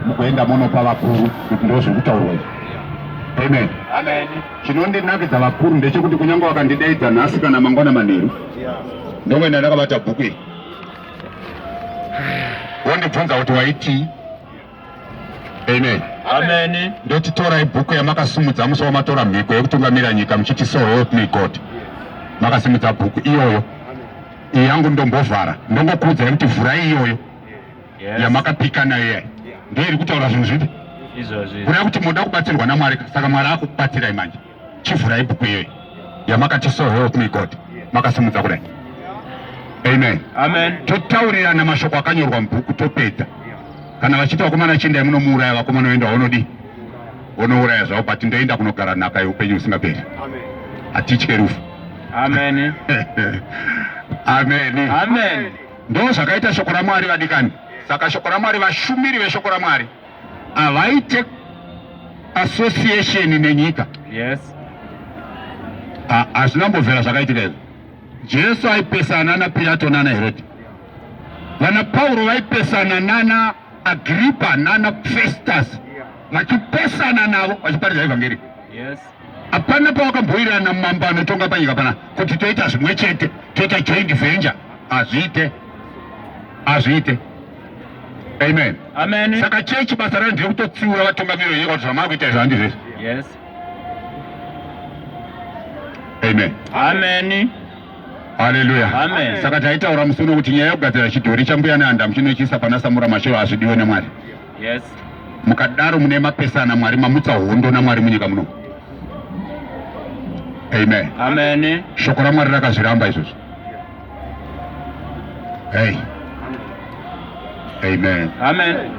mukuenda munopa vakuru kuti ndo zvekutaurwa izvi amen chinondinakidza vakuru ndechekuti kunyange wakandidaidza nhasi kana mangwana manheru ndongoenda ndakabata bhuku iri wondibvunza kuti waitii amen amen ndoti torai bhuku yamakasumudza musi wamatora mhiko yekutungamira nyika muchiti so help me god makasimudza bhuku iyoyo iyi yangu ndombovhara ndongokuudzai kuti vhurai iyoyo yamakapika nayo iya ndiyo iri kutaura zvinhu zvipi kureva kuti moda kubatsirwa namwari saka mwari akubatsirai manje chivhurai bhuku iyoyi yamakati so help me god makasimudza kudai amen amen totaurirana mashoko akanyorwa mubhuku topedza kana vachiti vakomana chiendai munomuuraya vakomana oenda waunodii unouraya zvavo but ndoenda kunogara nhaka yeupenyu husingaperi hatitye rufu amen amen amen Ndoo zvakaita shoko raMwari vadikani. Saka shoko raMwari, vashumiri veshoko raMwari havaite association nenyika. Yes. Hazvina mbovhera zvakaitika izvo. Jesu aipesana naPirato nana Herodi. Vana Pauro vaipesana nana Agripa nana Festus vachipesana navo vachiparidza evhangeri. Yes. Hapana pawakambowirirana mambo anotonga panyika pana kuti toita zvimwe chete, toita joint venture. Hazviite, hazviite. Amen. Amen. Saka chechi basa rayo ndiri kutotsiura vatungamiri venyika kuti zvamava kuita izvo handi zvese. Yes. Amen. Amen. Haleluya. Amen. Saka taitaura musi uno kuti nyaya yokugadzira chidhori chambuya nehandamu chinochiisa pana samura mashero hazvidiwe nemwari. Yes. Mukadaro mune mapesana Mwari mamutsa hondo naMwari munyika muno. Amen. Amen. Shoko raMwari rakazviramba izvozvo. Hey. Amen. Amen.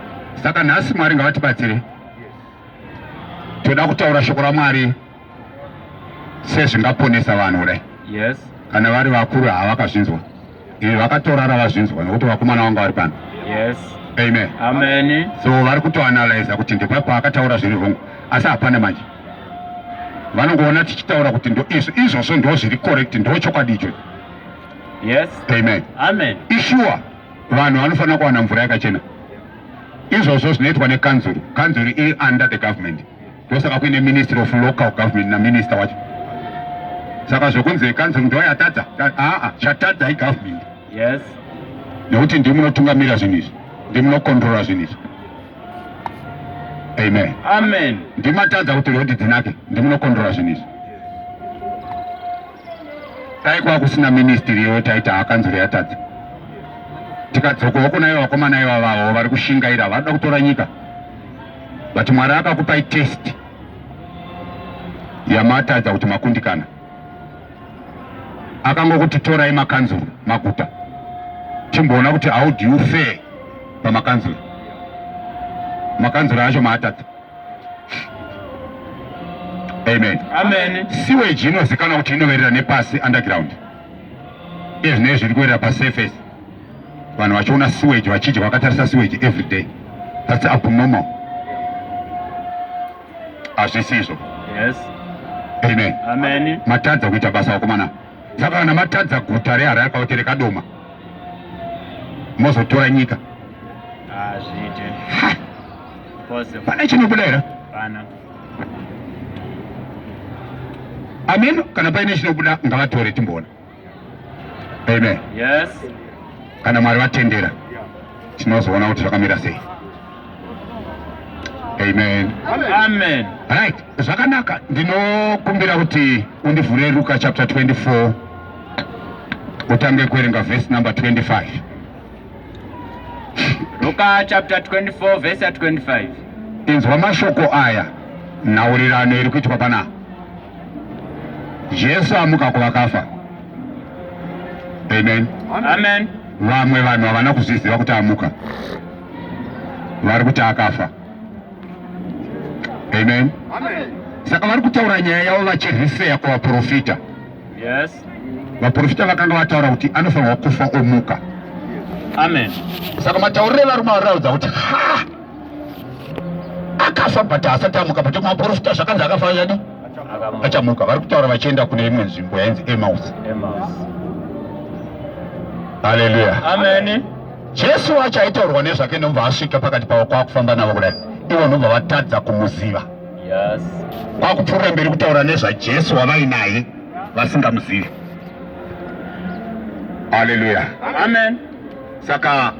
Saka nhasi Mwari ngavatibatsire. Toda kutaura shoko raMwari. sezvingaponesa vanhu kudai yes. kana vari vakuru havakazvinzwa ivi vakatorara vazvinzwa nokuti vakomana vanga vari pano yes. amen. amen so vari kutoanalyza kuti ndipo paakataura zviri hongu asi hapana manje vanongoona tichitaura kuti ndoizvo izvozvo ndo zviri correct ndo chokwadi icho yes. amen. amen ishuwa vanhu vanofanira kuwana mvura yakachena izvozvo zvinoitwa nekanzuru kanzuru iri under the government ndosaka kuine ministry of local government naminister wacho saka zvekunzi ekanzuru ndiyo yatadza aa chatadza igovernment yes nekuti ndi munotungamira zvinhu izvi ndi munokontrola zvinhu izvi amen amen ndimatadza kuti rhodhi dzinake ndi munokontrola zvinhu izvi dai kwava kusina ministry iyoyo taita akanzuru yatadza tikadzokawo kuna ivo vakomana ivavavo vari kushingaira vanoda kutora nyika but Mwari akakupai test yamatadza kuti makundikana. Akangokuti torai makanzuru maguta timboona kuti how do you fare pamakanzuru makanzuru acho maatadza amen amen siweji inozikanwa kuti inoverera nepasi underground ezvinei zviri kuverera pasurface vanhu vachiona sewage vachidya vakatarisa sewage every day thats abnormal hazvisizvo yes. amen. amen matadza kuita basa vakomana saka kana matadza guta rehara yakaotere kadoma mozotora nyika pane chinobuda here amen kana paine chinobuda ngavatore timboona Amen. Yes. Kana Mwari vatendera tinozoona kuti zvakamira sei. Amen. Amen. Right. Zvakanaka ndinokumbira kuti undivhure Luka chapter 24 utange kuerenga verse number 25. Luka chapter 24 verse 25. Inzwa mashoko aya nhaurirano iri kuitwa panapa. Jesu amuka kuvakafa. Amen. Amen. Vamwe vanhu havana kuzviziva kuti amuka, vari kuti akafa. Amen. Amen. Saka vari kutaura nyaya yavo vachirhiseya kuvaprofita. Yes. Vaprofita vakanga vataura kuti anofanirwa kufa omuka. Amen. Saka matauriro evarume variraudza kuti ha akafa but asati amuka but maporofita zvakanzi akafa chadi achamuka vari kutaura vachienda kune imwe nzvimbo yainzi emaus haleluya jesu wacho aitaurwa nezvake ndomva asvika pakati pavo kwakufamba navo kudai ivo ndomva vatadza kumuziva kwakupfuurira mberi kutaura nezvajesu wavainaye vasingamuzivi haleluya amen saka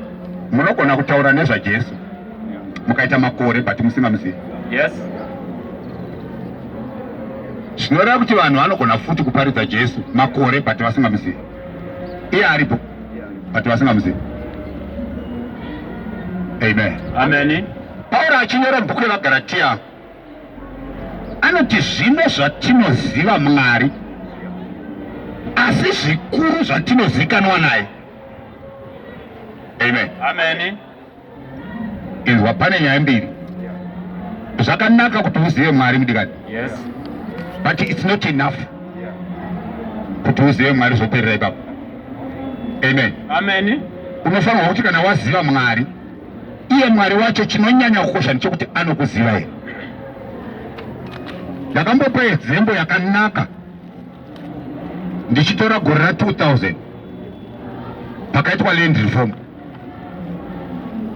munogona kutaura nezvajesu mukaita makore but musingamuzivi yes zvinoreva kuti vanhu vanogona futi kuparidza jesu makore but vasingamuzivi iye aripo but vasingamuzivi amen amen pauro achinyora bhuku revagaratiya anoti zvino zvatinoziva mwari asi zvikuru zvatinozikanwa naye amen amen inzwa pane nyaya mbiri zvakanaka kuti uzive mwari mudikani yes but it's not enough kuti uzive mwari zvoperera ipapo amen amen unofanirwa kuti kana waziva mwari iye mwari wacho chinonyanya kukosha ndichokuti anokuziva here ndakambopa yedzembo yakanaka ndichitora gore ra 2000 pakaitwa land reform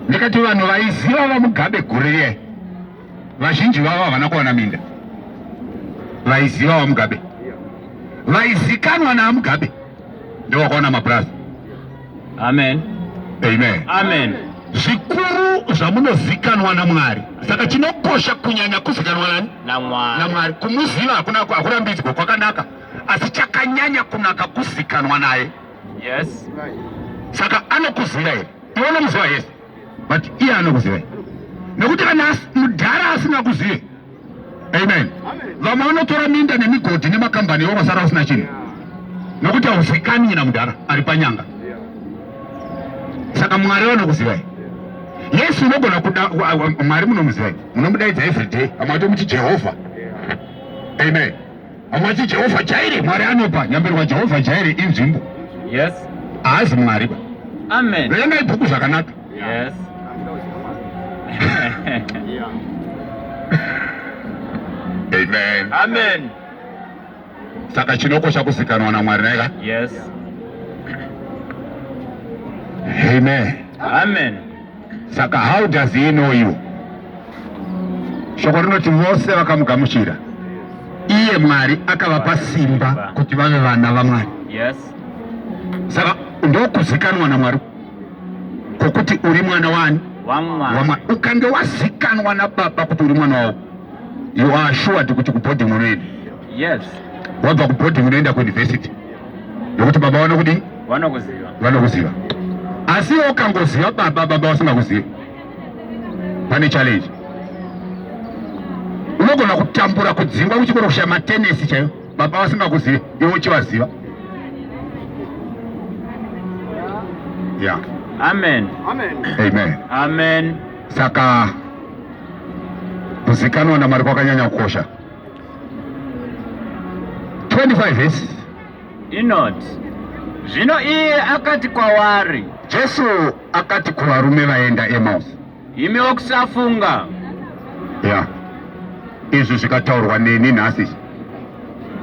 ndikati vanhu vaiziva vamugabe gore riyai vazhinji vavo havana kuwana minda vaiziva vamugabe vaizikanwa naamugabe ndovakaona mapurazi amen amen amen zvikuru zvamunozikanwa namwari saka chinokosha kunyanya kuzikanwa nani namwari kumuziva hakuna akurambidzwa kwakanaka asi chakanyanya kunaka kuzikanwa naye yes saka anokuziva here iwe unomuziva yese but iye anokuzivai nekuti kana mudhara asina kuzive amen vamwe vanotora minda nemigodhi nemakambani iwo vasara usina chinhu nekuti hauzikanyi na mudhara ari panyanga saka mwari vanokuzivai yesu unogona kuda mwari munomuzivai munomudaidza everyday vamwe vatomuti jehovha amen Hawati Jehovha Jaire, Mwari anopa. Nyambirwa Jehovha Jaire inzvimbo. Yes. Haazi Mwari ba. Amen. Verengai bhuku zvakanaka. Yes. Amen. Amen. Saka chinokosha kuzikanwa naMwari naika? Yes. Amen. Amen. Saka how does he know you? Shoko rinoti vose vakamugamuchira. Iye Mwari akavapa simba kuti vave vana vaMwari. Yes. Saka ndokuzikanwa naMwari kokuti uri mwana wani? WaMwari. Ukange wazikanwa naBaba kuti uri mwana wavo, you are assured kuti kubhodhi unoenda. Yes. Wabva kubhodhi unoenda kuuniversity. Nekuti baba vanokuti vanokuziva vanokuziva asi ukangoziva baba baba vasingakuzivi pane challenge unogona kutambura kudzingwa kuchikoro kushaya matenesi chaiyo baba vasingakuzivi iwe uchivaziva ya amen amen amen amen saka kuzikanwa namwari kwakanyanya kukosha 25 vesi inoti, Zvino iye akati kwavari. Jesu akati kuvarume vaenda Emausi. Imi wokusafunga. Ya. Izvi zvikataurwa neni nhasi.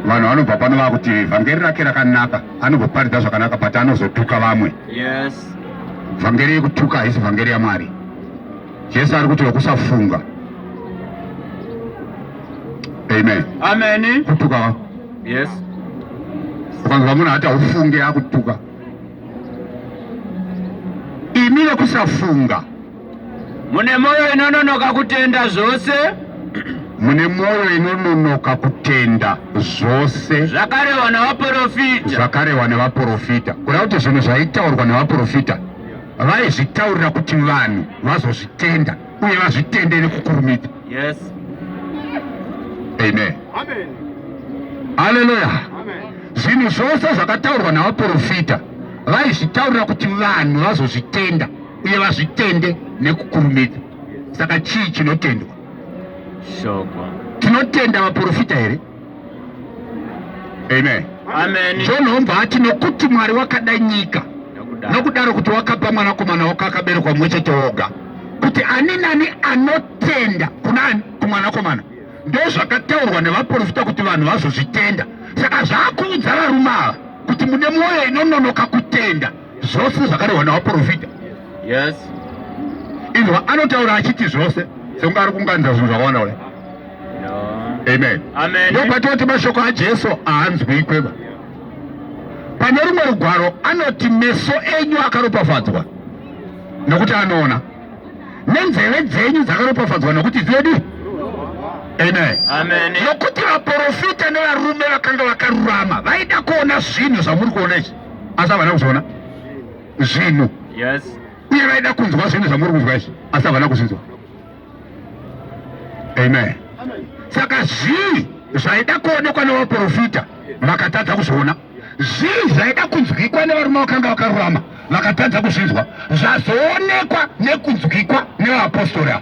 Vanhu vanobva pano vakuti vhangeri rake rakanaka, anobvoparidza zvakanaka but anozotuka vamwe. Yes. Vhangeri yekutuka haisi vhangeri yaMwari. Jesu ari kuti wokusafunga. Amen. Amen. Kutuka Yes. Ukanzwa munhu ati haufunge akutuka. Imi vekusafunga. Mune moyo inononoka kutenda zvose. Mune moyo inononoka kutenda zvose. Zvakarewa nevaporofita. Zvakarewa nevaporofita. Kuda kuti zvinhu zvaitaurwa nevaporofita vaizvitaurira kuti vanhu vazozvitenda. uye vazvitende nekukurumidza yes amen amen haleluya zvinhu zvose zvakataurwa navaprofita vaizvitaurira kuti vanhu vazozvitenda uye vazvitende nekukurumidza saka chii chinotendwa shoko tinotenda vaprofita here Amen. Amen. John Homba ati nokuti Mwari wakada nyika nokudaro kuti wakapa mwanakomana wako akaberekwa mumwe chete woga kuti ani nani anotenda kunani kumwanakomana ndozvakataurwa nevaprofita kuti vanhu vazozvitenda saka zvakuudza varume ava kuti mune mwoyo inononoka kutenda zvose zvakarehwa navaprofita yes izvo anotaura achiti zvose sekunge ari kunganidza zvinhu zvakawanda kudai amen ndopatinoti mashoko ajesu haanzwi ikweva pane rumwe rugwaro anoti meso enyu akaropafadzwa nokuti anoona nenzeve dzenyu dzakaropafadzwa nokuti dzedu amen nokuti vaprofita nevarume vakanga vakarurama vaida kuona zvinhu zvamuri kuona izvi asi havana kuzviona zvinhu uye vaida kunzwa zvinhu zvamuri kunzwa izvi asi havana kuzvinzwa amen saka zvii zvaida kuonekwa nevaprofita vakatadza kuzviona zvii zvaida kunzwikwa nevarume vakanga vakarurama vakatadza kuzvinzwa zvazoonekwa nekunzwikwa nevaapostori ava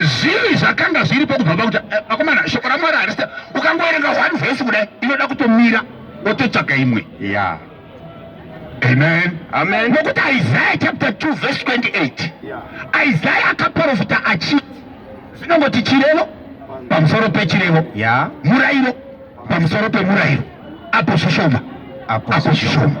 zvinhu zvakanga zviripo kubva pakuti eh, vakomana shoko ramwari harisa ukangoerenga one vhesi kudai inoda kutomira wototsvaga imwe ya amen amen nokuti isaya chapter 2 vhesi 28 isaya akaprofita achi zvinongoti chirevo pamusoro pechirevo ya murayiro pamusoro pemurayiro apo zvishoma apo zvishoma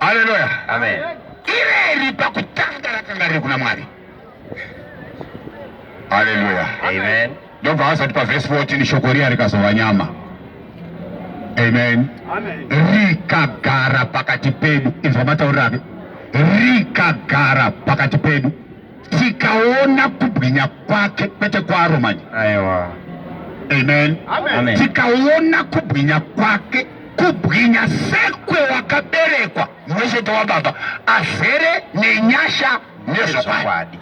Haleluya. Amen. Ireri pakutanga rakanga riri kuna Mwari. Haleluya. Amen. Ndobva vasati pavhesi 14 shoko riya rikazova nyama. Amen. Amen. Rikagara pakati pedu. Inzwa matauriro ake. Rikagara pakati pedu. Tikaona kubwinya kwake kwete kwaro manje. Aiwa. Amen. Amen. Tikaona kubwinya kwake kubwinya sekwewakaberekwa mwechete wababa azere nenyasha nezvokwadi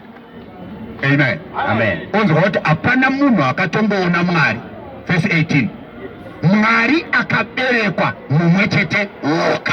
amen amen onzwa kuti hapana munhu akatomboona mwari verse 18 mwari akaberekwa mumwe chete woka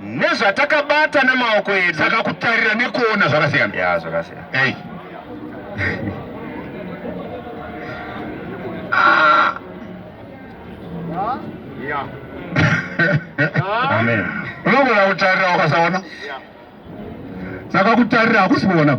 nezvatakabata nemaoko edu saka kutarira nekuona zvakasiyana ya zvakasiyana hey. ah. yeah. amen unogona kutarira ukasaona saka kutarira hakusi kuona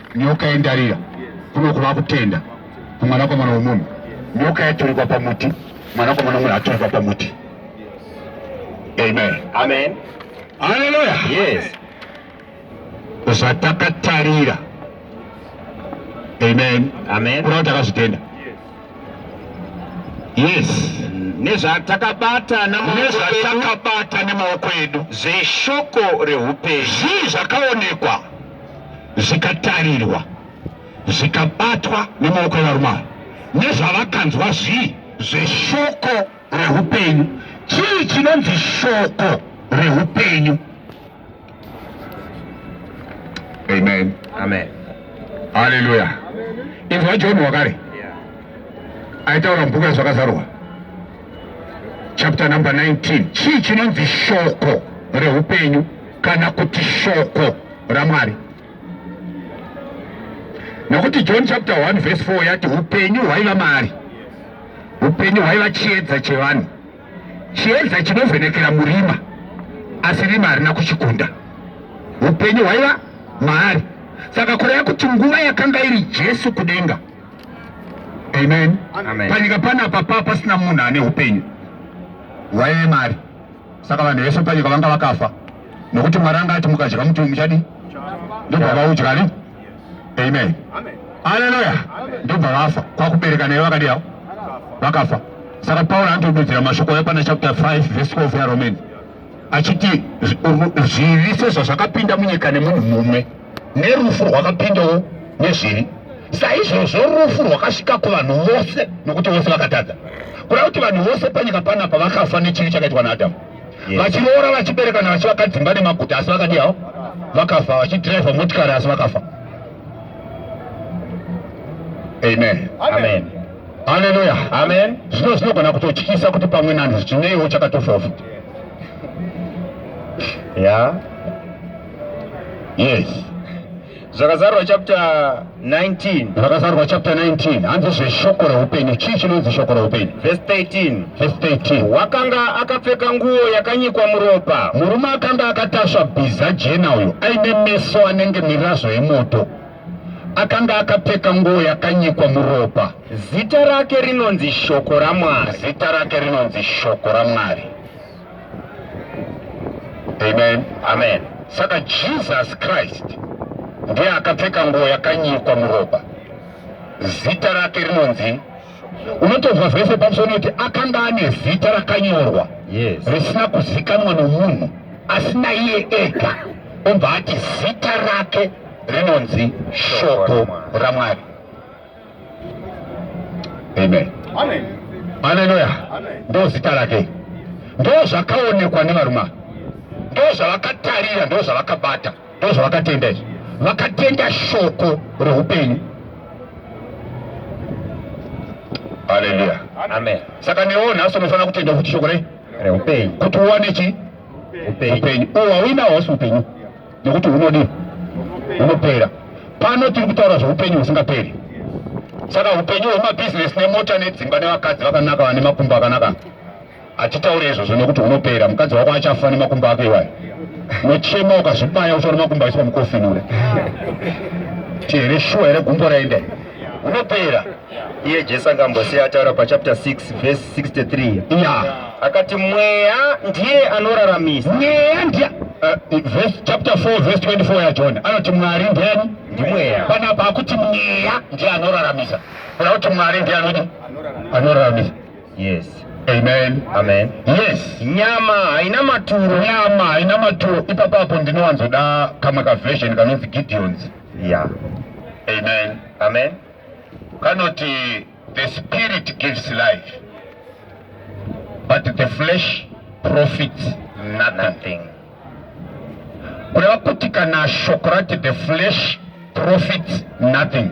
nyoka yendarira kuno kuva kutenda kumwanakomana womunhu nyoka yaturikwa pamuti mwanakomana womunhu aturikwa pamuti amen amen haleluya yes zvatakatarira amen amen kurava takazvitenda yes nezvatakabata nezvatakabata nemaoko edu zveshoko reupenyu zvii zvakaonekwa zvikatarirwa zvikabatwa nemaoko evarume ava nezvavakanzwa zvii zveshoko rehupenyu chii chinonzi shoko rehupenyu amen amen haleluya inzwa john wakare aitaura mubhuku yazvakazarwa chapter number 19 chii chinonzi shoko reupenyu kana kuti shoko ramwari nokuti john chapter 1 verse 4 yati upenyu hwaiva maari upenyu hwaiva chiedza chevanhu chiedza chinovhenekera murima asi rima harina kuchikunda upenyu hwaiva maari saka kureva kuti nguva yakanga iri jesu kudenga Amen. Amen. Panyika panapa pa pasina munhu ane upenyu hwaive mari, saka vanhu vese panyika vanga vakafa, nokuti Mwari anga ati mukadya muti muchadi ndobva vaudya ni. Amen. Haleluya. Ndobva vafa kwakubereka naye vakadiyawo vakafa. Saka Paul anotodudzira mashoko epana chapter 5 verse 12 yaRomani achiti zvivi sezvazvakapinda munyika nemunhu mumwe nerufu rwakapindawo nezvivi saizvozvo rufu rwakasvika kuvanhu vose nokuti vose vakatadza kuda kuti vanhu vose panyika panapa vakafa nechivi chakaitwa naadhamu vachiroora vachiberekana vachivaka dzimba nemaguta asi vakadiyawo vakafa vachidhiraivha motikari asi vakafa amen amen, amen. Haleluya. Amen. Zvino zvinogona kutotyisa kuti pamwe nanhu chineiwo chakatofawo futi. Yeah. Yes. Zvakazarwa chapter 19. Zvakazarwa chapter 19. Hanzi zveshoko reupenyu. Chii chinonzi shoko reupenyu? Verse 13. Verse 13. Wakanga akapfeka nguo yakanyikwa muropa. Murume akanga akatasva bhiza jena uyo aine meso anenge mirazvo yemoto. Akanga akapfeka nguo yakanyikwa muropa. Zita rake rinonzi Shoko raMwari. Zita rake rinonzi Shoko raMwari. Amen. Amen. Saka Jesus Christ ndiye akapfeka nguo yakanyikwa muropa. Zita rake rinonzi unotonzwa zvese pamusoro nekuti akanga ane zita rakanyorwa yes. risina kuzikanwa nomunhu asi naiye ega obva ati zita rake rinonzi shoko ramwari amen haleluya ndo zita rake ndo zvakaonekwa nevarume ndo zvavakatarira ndo zvavakabata ndo zvavakatenda izvi vakatenda shoko reupenyu haleluya amen saka newo nhasi unofanira kutenda kuti shoko rei reupenyu kuti uwane chi upenyu uwa uinawo hausi upenyu nokuti hunodii hunopera pano tiri kutaura zveupenyu husingaperi saka upenyu hwemabhizinesi nemota nedzimba nevakadzi vakanaka vane makumbo akanaka hatitaure izvozvo nekuti unopera mukadzi wako achafa nemakumbo ake iwayo nochema ukazvibaya uchaona makumbo aiswa mukofinure tihere shuwa here gumbo raende unopera iye jesu akambosiya ataura pachapter 6 vhesi 63 ya akati mweya ndiye anoraramisa mweya ndiye uh, verse, chapter 4 verse 24 yajona anoti mwari ndiani ndimweya panapa akuti mweya ndiye anoraramisa kuna kuti mwari ndiye anoti anoraramisa yes amen amen yes nyama haina maturo nyama haina maturo ipapapo ndinowanzoda kamwe kaversion kanonzi gideons Yeah. Amen. Amen. Kanoti the spirit gives life but the flesh profits nothing. Kureva kuti kana shoko rati the flesh profits nothing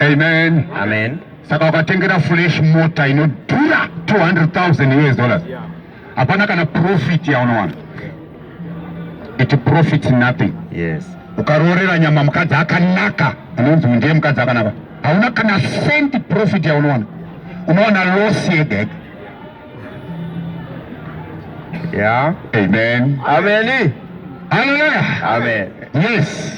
Amen. Amen. Saka ukatengera flesh mota inodhura 200,000 US dollars. Hapana kana profit yaunowana. It profits nothing. Yes. Ukaroorera nyama mukadzi akanaka, anonzi ndiye mukadzi akanaka. Hauna kana cent profit yaunowana. Unowana loss yega yega. Yeah. Amen. Amen. Hallelujah. Amen. Yes.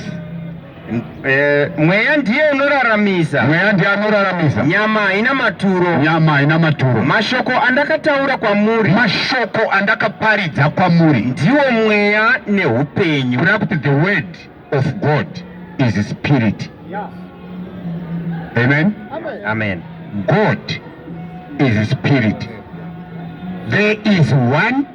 Eh, mweya ndiye unoraramisa. Mweya ndiye anoraramisa. Nyama haina maturo. Nyama haina maturo. Mashoko andakataura kwamuri. Mashoko andakaparidza kwamuri. Ndiwo mweya neupenyu. Kuna kuti the word of God is spirit. Yes. Amen. Amen. Amen. God is spirit. There is one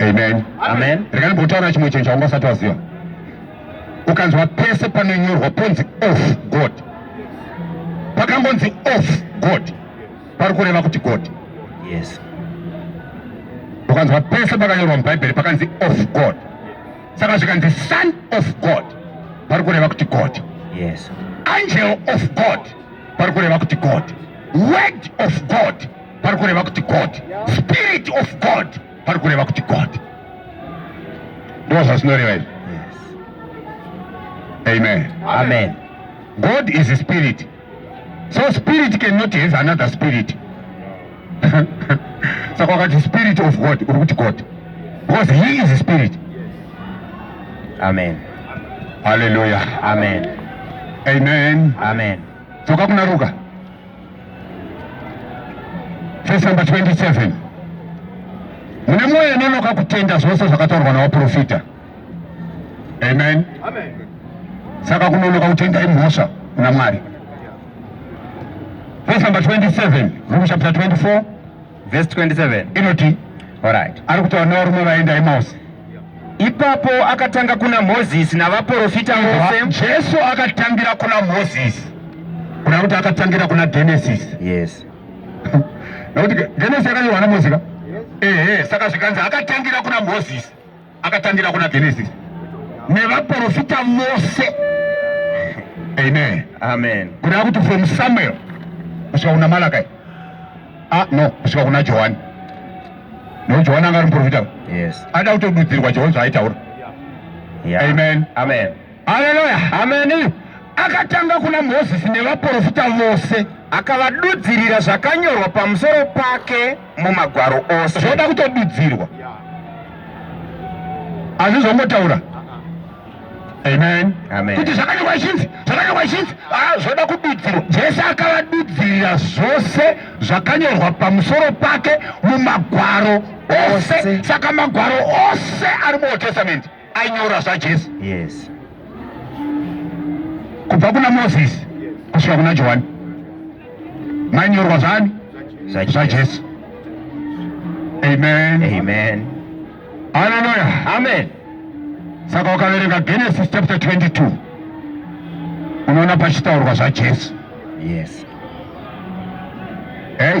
Amen. Amen. Rekani botaura chimwe chinhu chaunga usati waziva. Ukanzwa pese panonyorwa ponzi off God. Pakangonzi off God. Pari kureva kuti God. Yes. Ukanzwa pese pakanyorwa muBhaibheri pakanzi off God. Saka zvikanzi son of God. Pari kureva kuti God. Yes. Angel of God. pari kureva kuti god word of god pari kureva kuti god spirit of god pari kureva kuti god ndoo zvazvinoreva izvi amen amen god is a spirit so spirit cannot have another spirit saka wakati spirit of god uri kuti god because he is spirit amen haleluya amen amen amen dzoka kuna ruka verse number 27 mune mwoyo inonoka kutenda zvose zvakataurwa nawaprofita amen saka kunonoka kutenda imhosva kuna mwari Verse number 27, Romans chapter 24, verse 27. Inoti, all right. Ari kutaura nevarume vaenda Emmaus. Ipapo akatanga kuna Moses navaprofita vose. Jesu akatangira kuna Moses. Kuna kuti akatangira kuna Genesis. Yes. Nokuti Genesis yakanyorwa naMoses ka? Yes. Eh, eh, saka zvikanzi akatangira kuna Moses. akatangira kuna Genesis nevaprofita vose amen amen kureva kuti from Samuel kusvika kuna Malakai ah no kusvika kuna Johani no Johani anga ari muprofita yes ada kutodudzirwa Johani zvaaitaura yeah. amen amen haleluya amen akatanga kuna Moses nevaprofita vose akavadudzirira zvakanyorwa pamusoro pake mumagwaro ose zvoda kutodudzirwa azvizongotaura amen kuti zvakanyorwa ichinzi zvakanyorwa ichinzi ah, zvoda kududzirwa jesu akavadudzirira zvose zvakanyorwa pamusoro pake mumagwaro ose saka magwaro ose ari muold testament ainyora zvajesu yes kubva kuna moses kusvika kuna johani mainyorwa zvani zvajesu amen amen haleluya amen saka wakaverenga genesis chapter 22 unoona pachitaurwa zvajesu yes hey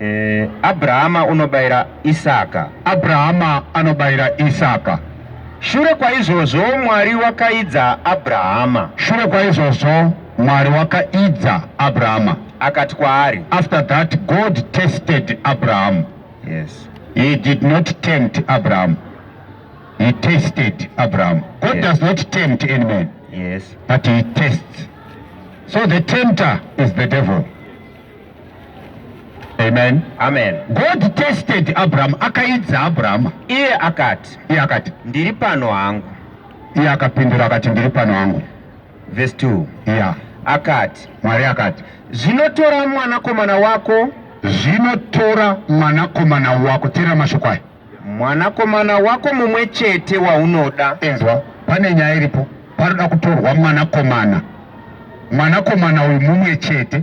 Eh, Abrahama unobayira Isaka. Abrahama anobayira Isaka. Shure kwaizvozvo Mwari wakaidza Abrahama. Shure kwaizvozvo Mwari wakaidza Abrahama. Akati kwaari. After that God tested Abraham. Yes. He did not tempt Abraham. He tested Abraham. God yes. does not tempt any man. Yes. But he tests. So the tempter is the devil. Amen. Amen. God tested Abraham, akaidza Abraham. Iye akati. Iye akati. Ndiri pano hangu. Iye akapindura akati ndiri pano hangu. Verse 2. Yeah. Akati. Mwari akati. Zvinotora mwanakomana wako. Zvinotora mwanakomana wako. Tera mashoko aya. Mwanakomana wako mumwe chete waunoda. Inzwa, pane nyaya iripo. Paroda kutorwa mwanakomana. Mwanakomana uyu mumwe chete.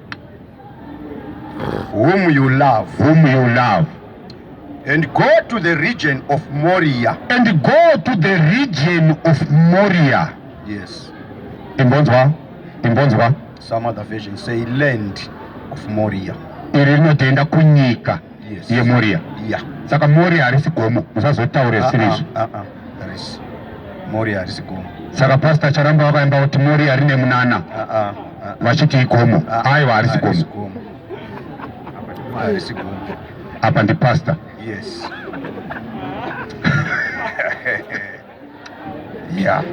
whom you love, whom you love and go to the region of Moria and go to the region of Moria yes imbonzwa imbonzwa some other version say land of Moria iri rinotoenda kunyika yes. yemoria yeah. saka moria harisi gomo musazotaure ah, zvisiri ah, izvi ah, moria harisi gomo saka pasta charamba vakaimba kuti moria rine munana vachiti igomo aiwa harisi gomo apa ndipasta yes mya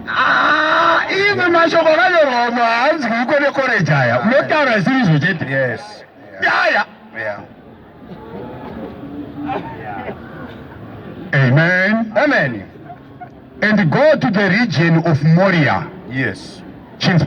ah, imwe mashoko akanyorwa umwe haanzwiko nekoreji aya unotaura zvisiri izvo chete yaya amen amen and go to the region of moria yes chinzi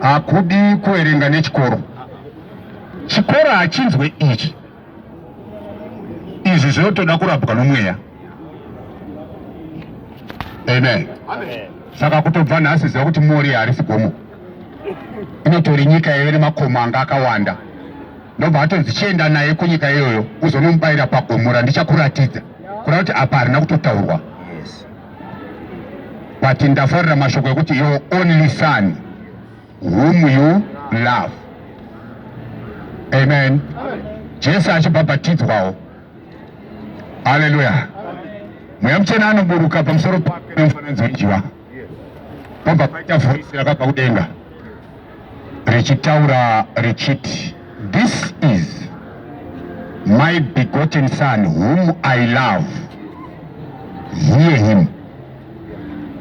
hakudi kuverenga nechikoro chikoro hachinzwe ichi izvi zvinotoda kurabwa nomweya amen saka kutobva nhasi ziva kuti mori harisi gomo inotori nyika yaive nemakomo anga akawanda ndobva atonzi chienda naye kunyika iyoyo uzonomubayira pagomo randichakuratidza kuda kuti apa harina kutotaurwa but ndafarira mashoko ekuti your only son whom you love amen jesu achibhabhatidzwawo haleluya mweya muchena anoburuka pamusoro pake nemufananidzo wejiva pobva paita voisi rakabva kudenga richitaura richiti this is my begotten son whom I love hear him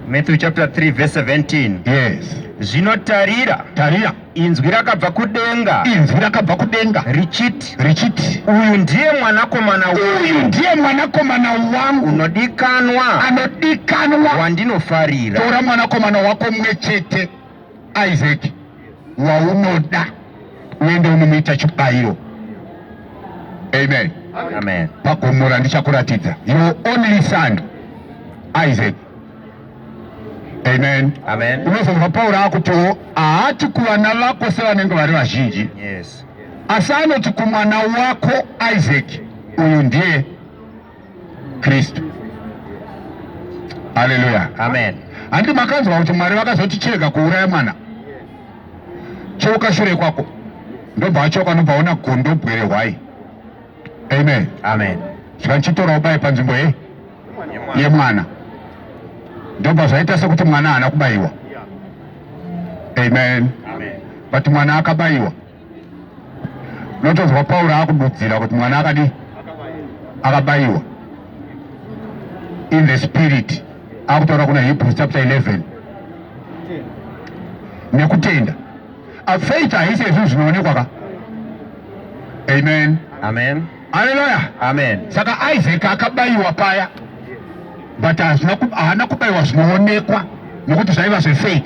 Matthew chapter 3 verse 17 yes zvino tarira tarira inzwi rakabva kudenga inzwi rakabva kudenga richiti richiti uyu ndiye mwanakomana uyu ndiye mwanakomana wangu unodikanwa anodikanwa wandinofarira tora mwanakomana wako mwe chete Isaac waunoda uende unomuita chibayiro. Amen. Amen. Pagomo randichakuratidza your only son Isaac. Amen. Amen. Unozonzwa Pauro akutiwo haati kuvana vako sevanenge vari vazhinji. Yes. Asi anoti kumwana wako Isaac uyu ndiye Kristu. Haleluya. Amen. Handi makanzwa kuti Mwari vakazotichega kuuraya mwana choka shure kwako ndobva achoka nobva ona gondo bwere hwai. Amen. Amen. Zvikandichitora ubaye panzvimbo ye yemwana ndobva zvaita sekuti mwana haana kubayiwa. Amen. Amen. But mwana akabayiwa. Unotozwa Pauro akududzira kuti mwana akadi akabayiwa in the spirit akutaura kuna Hebrews chapter 11 nekutenda faith haisi ezvinhu zvinoonekwa ka amen amen aleluya amen saka isaac akabayiwa paya but haana kubayiwa zvinoonekwa nokuti zvaiva zvefaith